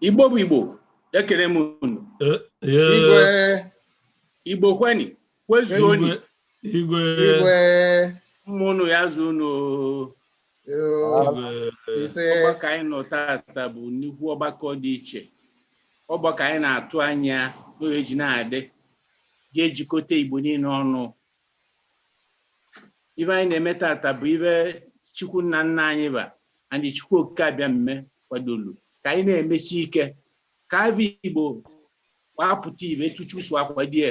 igbo bụ igbo ekene m unu igbo kweni kwezuoni igwe igwe mụọnụ ya zụọnụ oo. igwe ise ọgbakọ anyị nọ tata bụ nnukwu ọgbakọ dị iche ọgbakọ anyị na-atụ anya na o je na-adị ga-ejikọta igbo niile ọnụ ive anyị na-eme tata bụ ive chukwu nna nna anyị ba and chukwu okike abịama kwadolu ka anyị na-emesi ike ka ava igbo wee pụta ive etu chukwu si akwadie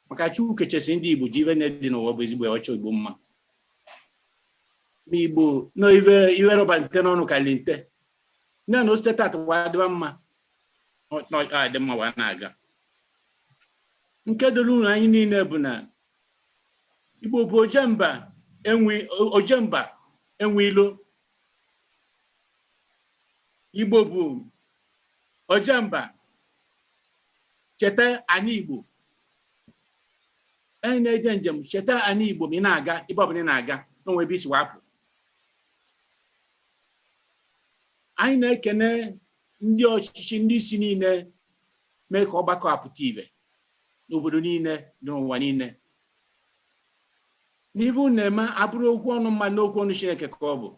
maka Chukwu kechesi ndị Igbo ji ive niile dị n'ụwa bụ ezigbo wee chọọ Igbo mma Igbo na ive rọba nte n'ọnụ karịrị nte na na o site tata wee dịba mma ọ- na ọ dị mma wee na-aga nke doro unu anyị niile bụ na Igbo bụ ojemba enwe ojemba enwe ilo Igbo bụ ojemba cheta anị Igbo onye na-eje njem cheta anị igbo ma ị na-aga ebe ọbụla ị na-aga na o nwe ebe i si wee pụ anyị na-ekene ndị ọchịchị ndị isi niile mee ka ọgbakọ a pụta ive n'obodo niile n'ụwa niile na ive unu na-eme abụrọ okwu ọnụ mmadụ na okwu ọnụ chineke ka ọ bụ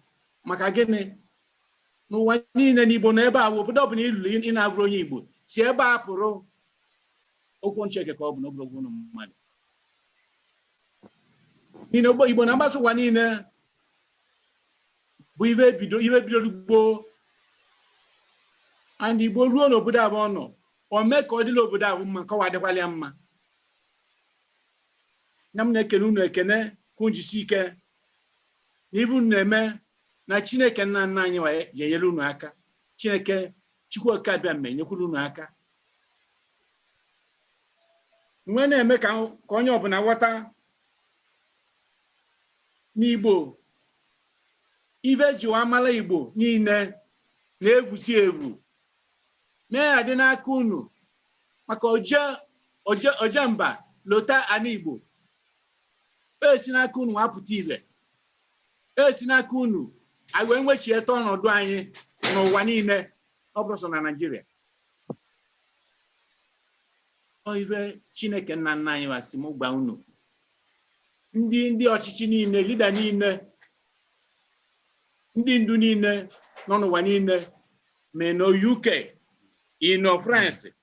maka gịnị n'ụwa niile na igbo nọ ebe a obodo ọbụla i lulu ị na-avụrọ onye igbo si ebe a pụrụ okwu ọnụ chineke ka ọ bụ na ọ bụrọ okwu ọnụ mmadụ na igbo na-agbasa ụwa niile bụ ive bidoro gboo ndị igbo ruo n'obodo avụ ọ nọ o mee ka ọ dịlị obodo avụ mma ka o wee dịkwalị ya mma na m na-ekene unu ekene ka unu jisi ike na ive unu na-eme na chineke nna nna anyị wa je-enyere unu aka chineke Chukwu Okike Abịama nyekwuru unu aka wee na-eme ka onye ọbụla ghọta na Igbo ive eji wee mara Igbo niile na-evusi evu mee ya dị n'aka unu maka oje oje oje mba lota ana Igbo o si n'aka unu wee pụta ive e si n'aka unu anyị wee nwechieta ọnọdụ anyị n'ụwa niile ọ bụrọ sọ na Naịjirịa ọ ife Chineke nna nna anyị wa sị m gwa unu ndị ndị ọchịchị niile lida niile ndị ndu niile nọ n'ụwa niile ma ị nọ UK ị nọ France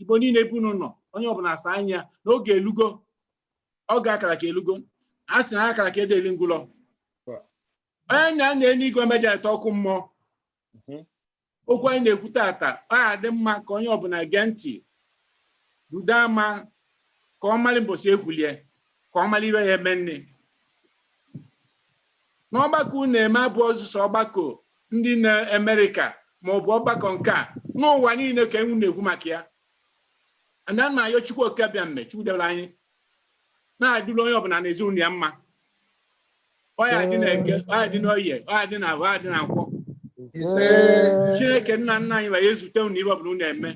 igbo niile ebe unu nọ onye ọbụla asa anya n'oge elugo oge a kara aka elugo a sị na aya a kara aka adị eli ngwụlọ onye na-ana eluigwe ama ejerịta ọkụ mmụọ okwu anyị na-ekwu tata ọ adị mma ka onye ọbụla gee ntị rudo ama ka ọ mara mbọsị e kwulie ka ọ mara ife ọ ya eme nne N'ọgbakọ unu eme abụrọ sọsọ ọgbakọ ndị na America ma ọ bụ ọgbakọ nke a, n'ụwa niile ka unu na-ekwu maka ya. And ana m ayọ Chukwu Okike Abịame, Chukwu debere anyị, na-adịrị onye ọbụla na ezinụlọ ya mma. Ọ ya adị na eke, ọ ya adị na oye, ọ ya adị na afọ, ọ ya adị na nkwọ. Ise. Chineke nna nna anyị wa ezute unu ife ọbụla unu eme.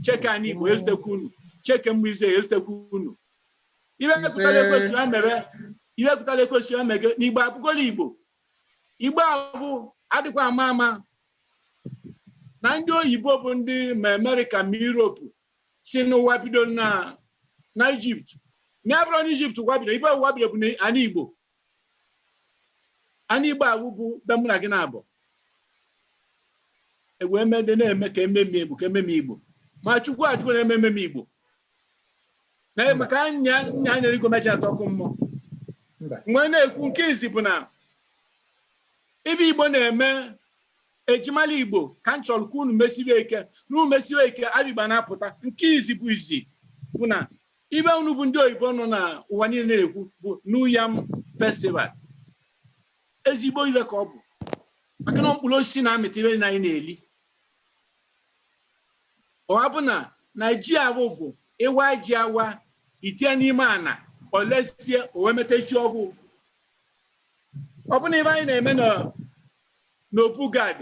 Chineke anyị Igbo ezutekwa unu. Chineke nke Izrel ezutekwa unu. Ife Ise. pụtara ekwesị ya mere ife pụtara ekwesị ya mege n'igbo abụgolo igbo igbo abụ adịkwa ama ama na ndị oyibo bụ ndị ma amerịka ma europe sị na ụwa bido na na ijipt ma ọ bụrọ na ijipt ụwa bido ebe ụwa bido bụ na ana igbo ana igbo ahụ bụ be mụ na gị na-abụ ewee mede na-eme ka e memie igbo ka e memie igbo ma chukwu ajụgo na a ma ememie igbo na Mba. maka onye na-ana enuigwe ama ejerịta ọkụ mmụọ Mba. mgbe a na-ekwu nke izi bụ na ife igbo na-eme e ji mala igbo ka m chọrọ ka unu mesiwe ike na unu mesiwe ike abịgba na-apụta nke izi bụ izi bụ na ife unu bụ ndị oyibo nọ na ụwa niile na-ekwu bụ new yam festival ezigbo ife ka ọ bụ maka na mkpụrụ osisi na-amịta ife na anyị na-eli Ọwa bụ na na ji ahụ bụ ị waa ji awa i tinye n'ime ana o lesie o wee mịta ji ọhụụ. Ọ bụ na ife anyị na-eme n'obu Gad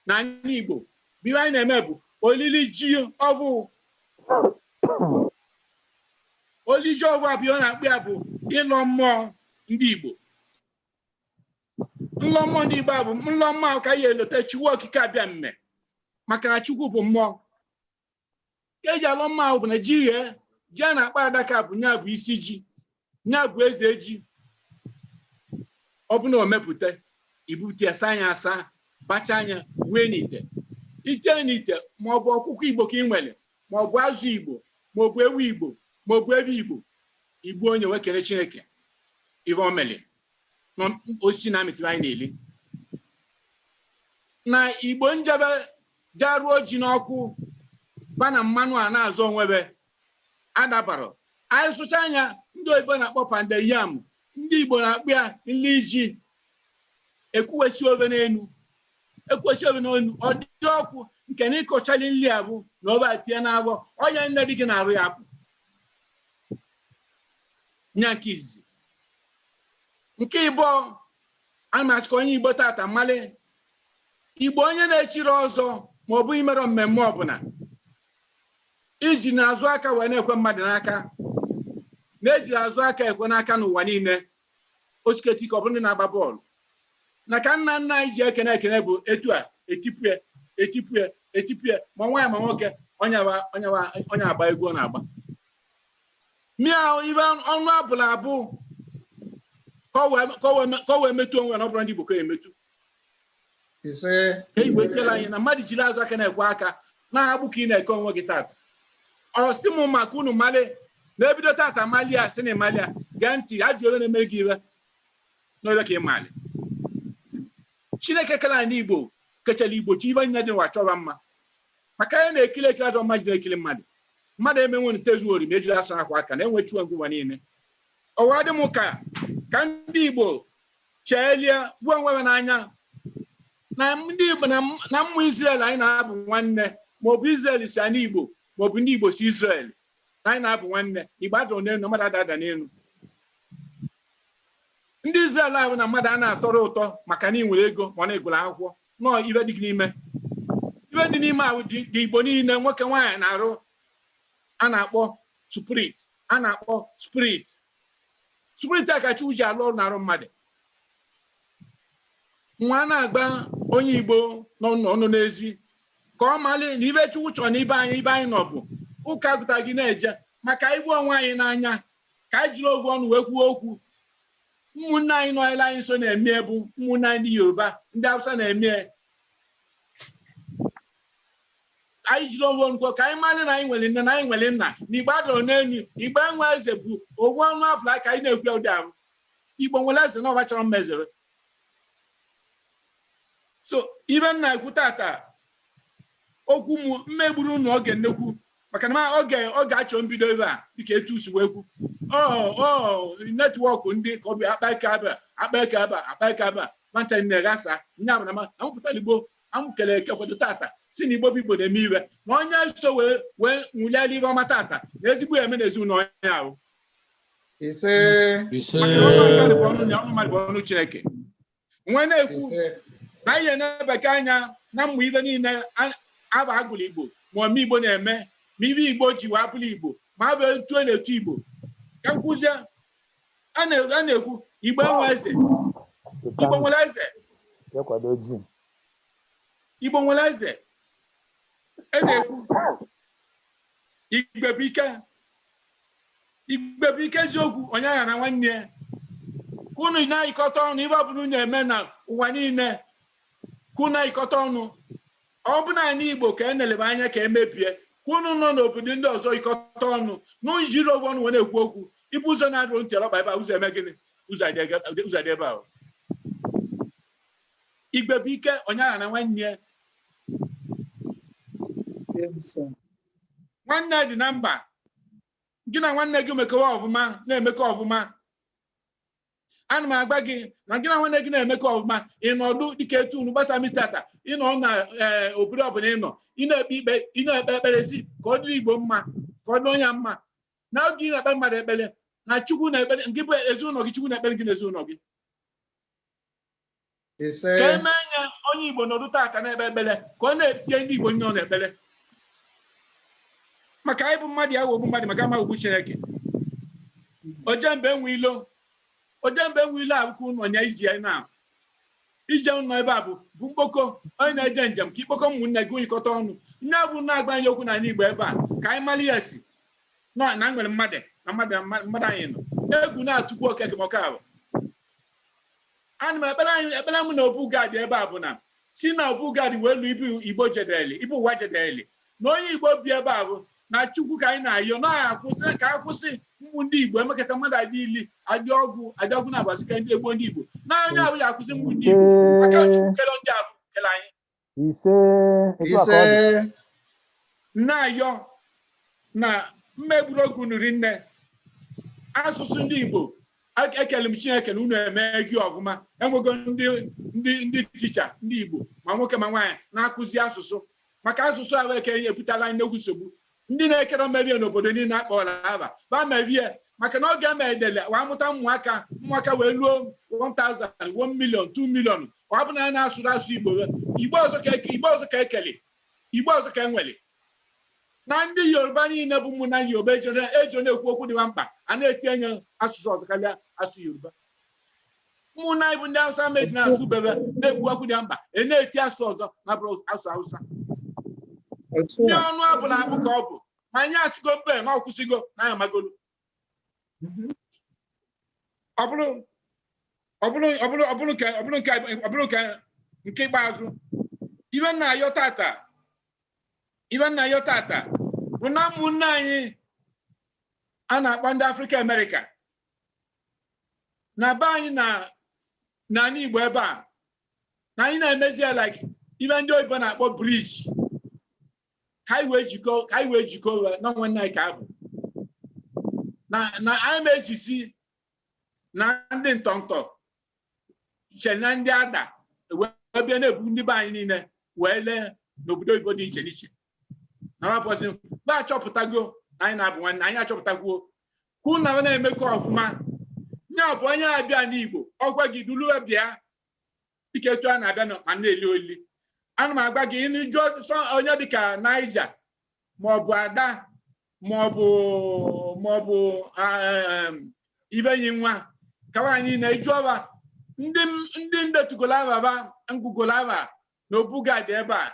na ala Igbo bụ ife anyị na-eme bụ olili ji ọhụụ. Olili ji ọhụụ ahụ a na-akpọ ya bụ ịlọ mmụọ ndị Igbo. nlọ mmụọ ndị Igbo a bụ nlọ mmụọ ahụ ka ya elote Chukwu okike abịama maka na Chukwu bụ mmụọ ka eji alọ mmụọ ahụ bụ na ji ghee ji a na-akpọ adaka bụ nya bụ isi ji nya bụ eze ji ọ bụ na omepụta ibute ya saa nya asa bachaa nya wee n'ite ite n'ite ma ọ bụ ọkụkọ igbo ka ị nwere ma ọ bụ azụ igbo ma ọ bụ ewu igbo ma ọ bụ evi igbo igbuo nya wee kele chineke ive o mere ma mkpụrụ osisi na-amịtụrụ anyị na-eli na igbo njebe jaruo ji n'ọkụ baa nya mmanụ a na-azụ onwebe adabara anyị sụchaa nya ndị oyibo na-akpọ pounded yam ndị igbo na-akpọ ya nli ji ekuwesi ove n'enu ekuwesi ove n'enu ọ dị ọkụ nke na ịkọchali nri a bụ na ọba tinye n'avọ ọnya nne dị gị n'arụ ya bụ nya nke izizi Nke ịbụọ, a na m asị ka onye Igbo tata malị Igbo onye na-echiri ọzọ ma ọ bụ imere mmemme ọbụla ijina azụ aka wee na-ekwe mmadụ n'aka na ejirọ azụ aka ekwe n'aka n'ụwa niile osiketi ka ọ bụ ndị na-agba bọọlụ na ka nna nna anyị ji ekene ekene bụ etu a etipue etipue etipue ma nwaanyị ma nwoke onye agba egwu ọ na-agba mịa ibe ọnụ abụla abụ ka o wee metụ onwe na ọ bụrụ ndị Igbo ka ya emetụ e iwetela anyị na mmadụ jiri azụ aka na-ekwe aka na-abụ ka ị na-eke onwe gị tata ọ sị m maka unu malị na ebido tata malia si na ịmalia gee ntị ajụ ole na-emere gị iwe n'ole ka ị mali chineke kere anyị n'igbo kechara igbo chi ive niile dị n'ụwa chọrọ mma maka anyị na-ekiri ekiri ajọ mmadụ na-ekiri mmadụ mmadụ emenwe ntezuori ma ejiri asa akwa aka na enwechiwe ngwụwa niile ọwa dị m ka ka ndị igbo cheelie vụ onwe ha n'anya na ndị igbo na m- na ụmụ israel anyị na ha bụ nwanne maọbụ israel si anị igbo maọbụ ndị igbo si israel na anyị na ha bụ nwanne igbo adọ n'elu mmadụ ada ada n'elu ndị israel ahụ na mmadụ a na-atọrọ ụtọ maka na ị nwere ego ma ọ na ị gụrụ akwụkwọ nọọ ive dị n'ime ive dị n'ime ahụ dị ndị igbo niile nwoke nwaanyị n'arụ a na-akpọ spirit a na-akpọ spirit spirit a ka chukwu ji alụ ọrụ n'arụ mmadụ nwa a na-agwa onye igbo nọ nọ- nọ n'ezi ka ọ malị na ive chukwu chọrọ na ebe anyị ebe anyị nọ bụ ụka gụta gị na-eje maka ịvụ onwe anyị n'anya ka anyị jiri ovu ọnụ wee kwuo okwu Ụmụnne anyị nọ ele anyị nso na-eme ya bụ ụmụnne anyị ndị Yoruba, ndị Hausa na-eme ya. Anyị jiri ovu ọnụ kwuo ka anyị mara na anyị nwere nne na anyị nwere nna na Igbo adọrọ n'elu Igbo enwe eze bụ ovu ọnụ abụla ka anyị na-ekwu ya ụdị ahụ. Igbo nwere eze na ọba chọrọ mma Eze Eri. So ibe m na-ekwu tata okwu m m ma egburu unu oge nnekwu maka na oge a chọ mbido ebe a dịka etu e si wee kwu ọ ọ netwọk na-adị ka ọ bụ akpa aka ebe a akpa aka ebe a akpa aka ebe a mancha nne ghasa nya bụ na ma amụpụtara igbo amụkere eke kwado tata si na igbo bụ igbo na-eme ihe ọma onye so wee wee ṅụliara ihe ọma tata na ezigbo ihe eme na ezinụlọ onye ahụ ise maka na ọnụ mmadụ bụ ọnụ ya ọnụ mmadụ bụ ọnụ chineke m wee na-ekwu ise na anyị na-ebeke anya na mmụ ibe niile a- aba a gụrụ igbo ma ome igbo na-eme ma ibe igbo ji wee abụrụ igbo ma aba etu a na-etu igbo ka a kwụsị a na- a na-ekwu igbo enwe eze igbo nwere eze igbo nwere eze e na-ekwu igbe bụ ike igbe bụ ike eziokwu onye aghana nwanne ya ka unu na-ayịkọta ọnụ ibe ọbụla unu eme na ụwa niile ka unu na-ayịkọta ọnụ ọ bụ naanị igbo ka a na-elebe anya ka e mebie ka unu nọ n'obodo ndị ọzọ yikọta ọnụ na unu jiri ovu ọnụ wee na-ekwu okwu ibu ụzọ na-adụrụ ntị ọkpa ebe a ụzọ eme gịnị ụzọ adị ege- ụzọ adị ebe ahụ igbe bụ ike onye aghana nwanne ya ise. nwanne dị na mba gị na nwanne gị mekọwa ọfụma na-emekọ ọfụma ana m agba gị na gị na nwanne gị na-emekọ ọfụma ị nọdụ dịka etu unu gbasa mi tata ị nọ na eh, obodo ọbụla ị nọ ị na-ekpe ikpe ị na-ekpe ekpere si ka ọ dịrị igbo mma ka ọ dị nya mma na oge ị na-ekpere mmadụ ekpere na chukwu na-ekpere gị bụ ezinụlọ gị chukwu na-ekpere gị na ezinụlọ gị ise ka eme nye onye Igbo nọdụ tata na-ekpe ekpere ka ọ na-etinye ndị Igbo nye ọ na-ekpere maka anyị bụ mmadụ ya wogbu mmadụ maka ama ogbu Chineke oje mba enwe ilo oje mba enwe ilo abụkọ ụnụ onye iji ya na ije ụnọ ebe a bụ bụ mkpọkọ onye na-eje njem ka i kpọkọ ụmụnne gị e yikọta ọnụ nya bụ na-agba anyị okwu n'ala Igbo ebe a ka anyị mara ya si na na nwere mmadụ na mmadụ na mmadụ anyị nọ egwu na-atụkwu okeke maka ahụ Ana m ekpere anyị ekpere m na Obu Gad ebe ọbụna si na Obu Gad wee lu ebe Igbo jedeli, ebe ụwa jedeli, na onye Igbo bi ebe ọbụna Chukwu ka anyị na-ayọ na ya akwụsị ka a kwụsị mgbu ndị Igbo emekata mmadụ adị ili adị ọgwụ adị ọgwụ na-abasị ka ndị egbu ndị Igbo na onye abụ ya akwụsị mgbu ndị Igbo maka Chukwu kere ndị abụ kere anyị ise etu a ka ọ ise dị na-ayọ na mmegburu oge unu rinne asụsụ ndị Igbo ek- ekele m Chineke na unu emee gị ọfụma enwego ndị ndị ndị ticha ndị Igbo ma nwoke ma nwaanyị na-akụzi asụsụ maka asụsụ ahụ eke ebutala nnekwu nsogbu Ndi nekere mevie n'obodo nile akpọlọ ava, va mevie, maka na oge emedele wa muta nmuaka, nmuaka we luo one thousand, one million, two million, ọ bụ na na-asụrụ asụ Igbo ve, Igbo ọzọ ka eke, Igbo ọzọ ka ekeli, Igbo ọzọ ka enweli. Na ndi Yoruba nile bụ ụmụnna Yoruba eji na-ekwu okwu dị va mkpa, a na-etinye asụsụ ọzọ karịa asụ Yoruba. ụmụnna anyị bụ ndị Hausa meji na-asụ bebe na-ekwu okwu dị mkpa a na-eti asụ ọzọ na-abụrọ asụ Hausa ndị ọnụ abụla abụ ka ọ bụ ma anyị asịgo mba na ọ kwụsịgo na ya magolu ọ bụrụ ọ bụrụ ọ bụrụ ọ bụrụ nke ọ bụrụ nke ọ bụrụ nke nke ikpeazụ ive m na-ayọ tata ive m na-ayọ tata bụ na ụmụnne anyị a na-akpọ ndị afrịka amerịka na be anyị na n'anị Igbo ebe a na anyị na-emezi ya like ive ndị oyibo na-akpọ bridge ka anyị wee jikọ ka anyị wee jikọ ụwa na nwanne anyị ka abụ na na anyị na-ejizi na ndị ntọntọ che na ndị Ada wee bịa na-ebu ndị be anyị niile wee lee n'obodo oyibo dị iche n'iche na wa pụzi va achọpụtago na anyị na-abụ nwanne anyị achọpụtagwo ka unu na va na-emekọ ọfụma ya bụ onye abịa n'igbo ọgwa gị duluwe bịa dịka etu a na-abịa na- ma na-eli olili ana m agwa gị ịnụ jụọ sọ onye dịka Naija maọbụ Ada maọbụ maọbụ em, Iveanyi nwa kawa anyị na e jụọ va ndị m- ndị m detugolu ava va m gụgolu ava na Obu Gad ebe a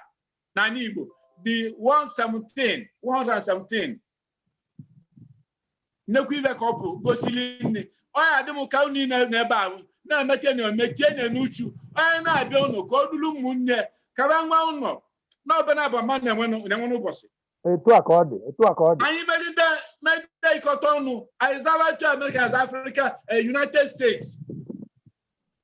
n'anị Igbo dị 117 117 nnekwu ive ka ọ bụ gosiri nne ọ ya adị m ka unu niile n'ebe ahụ na-emete na omechie na n'uchu onye na-abịa ụnọ ka o dulu ụmụnne ka va nwa ụnọ na ọbụla bụ mmadụ na-enwe nụ- na-enwe n'ụbọsị etu a ka ọ dị etu a ka ọ dị anyị meride meride ịkọta ọnụ anyị zava otu amerịka as afrịka eh, united states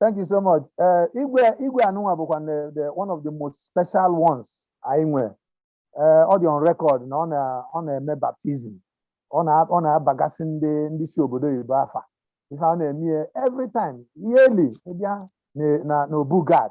Thank you so much. Uh, Igwe Igwe a nụnwa bụkwa the, the one of the most special ones anyị nwere. Uh, ọ dị on record na ọ na ọ na-eme baptism. Ọ na ọ na-abagasị ndị ndị si obodo oyibo afa. Ife ọ na-eme ya every time yearly ịbịa na- na n'Obu Gad